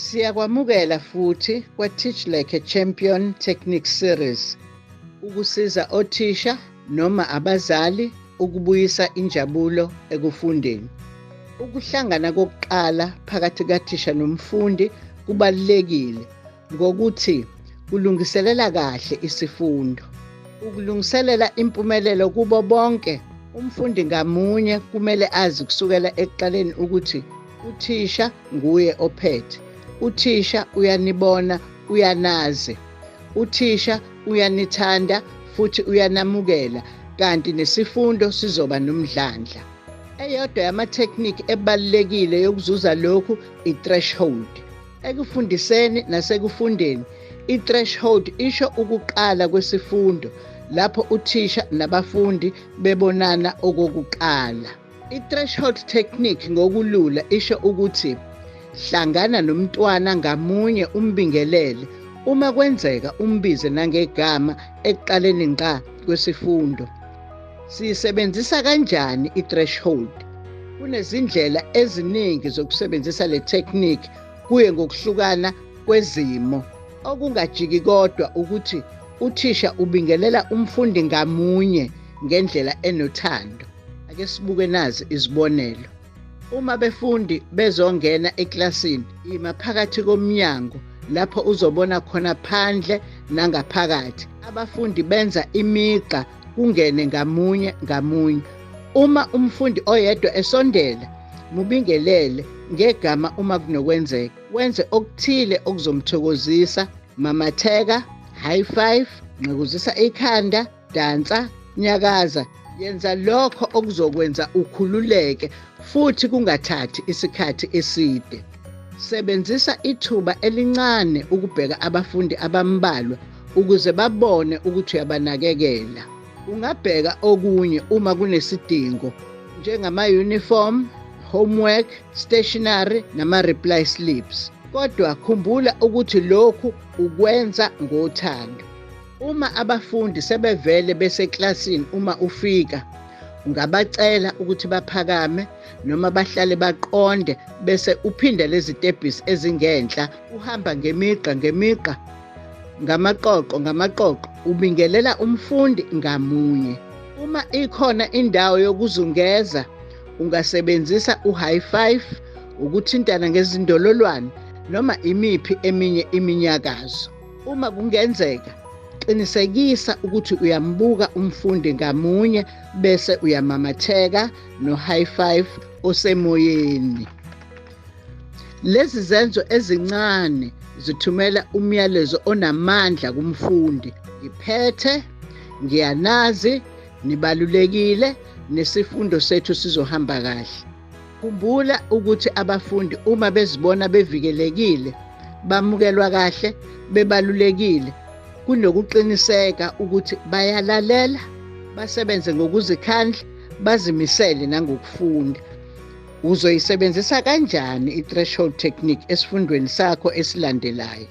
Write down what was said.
Siyakwamukela futhi kwa-Teach Like a Champion Technique Series ukusiza othisha noma abazali ukubuyisa injabulo ekufundeni. Ukuhlangana kokuqala phakathi kathisha nomfundi kubalulekile ngokuthi kulungiselela kahle isifundo. Ukulungiselela impumelelo kubo bonke, umfundi ngamunye kumele azi kusukela ekuqaleni ukuthi uthisha nguye ophethe. Uthisha uyanibona, uyanazi. Uthisha uyanithanda futhi uyanamukela kanti nesifundo sizoba nomdlandla. Eyodwa yamathekniki ebalulekile yokuzuza lokhu i-threshold. Ekufundiseni nasekufundeni, i-threshold isho ukuqala kwesifundo lapho uthisha nabafundi bebonana okokuqala. I-threshold technique ngokulula isho ukuthi hlangana nomntwana ngamunye umbingelele uma kwenzeka umbize nangegama ekuqaleni ngqa kwesifundo. Siyisebenzisa kanjani i-threshold? Kunezindlela eziningi zokusebenzisa le technique kuye ngokuhlukana kwezimo. Okungajiki kodwa ukuthi uthisha ubingelela umfundi ngamunye ngendlela enothando. Ake sibuke nazi izibonelo. Uma befundi bezongena eklasini, yima phakathi komnyango lapho uzobona khona phandle nangaphakathi. Abafundi benza imigqa kungene ngamunye ngamunye. Uma umfundi oyedwa esondela, mubingelele ngegama uma kunokwenzeka. Wenze okuthile okuzomthokozisa, mamatheka, high five, nqekuzisa ikhanda, dansa nyakaza yenza lokho okuzokwenza ukhululeke futhi kungathathi isikhathi eside sebenzisa ithuba elincane ukubheka abafundi abambalwa ukuze babone ukuthi uyabanakekela ungabheka okunye uma kunesidingo njengama-uniform homework stationary nama-reply slips kodwa khumbula ukuthi lokhu ukwenza ngothando Uma abafundi sebevele beseklasini uma ufika ungabacela ukuthi baphakame noma bahlale baqonde bese uphinda lezi tebhisi ezingenhla uhamba ngemigqa ngemigqa ngamaqoqo ngamaqoqo ubingelela umfundi ngamunye uma ikhona indawo yokuzungeza ungasebenzisa u-high five ukuthintana ngezindololwane noma imiphi eminye iminyakazo Uma kungenzeka qinisekisa ukuthi uyambuka umfundi ngamunye bese uyamamatheka no-high five osemoyeni. Lezi zenzo ezincane zithumela umyalezo onamandla kumfundi. Ngiphethe, ngiyanazi, nibalulekile, nesifundo sethu sizohamba kahle. Khumbula ukuthi abafundi uma bezibona bevikelekile, bamukelwa kahle, bebalulekile kunokuqiniseka ukuthi bayalalela, basebenze ngokuzikhandla, bazimisele nangokufunda. Uzoyisebenzisa kanjani i-threshold technique esifundweni sakho esilandelayo?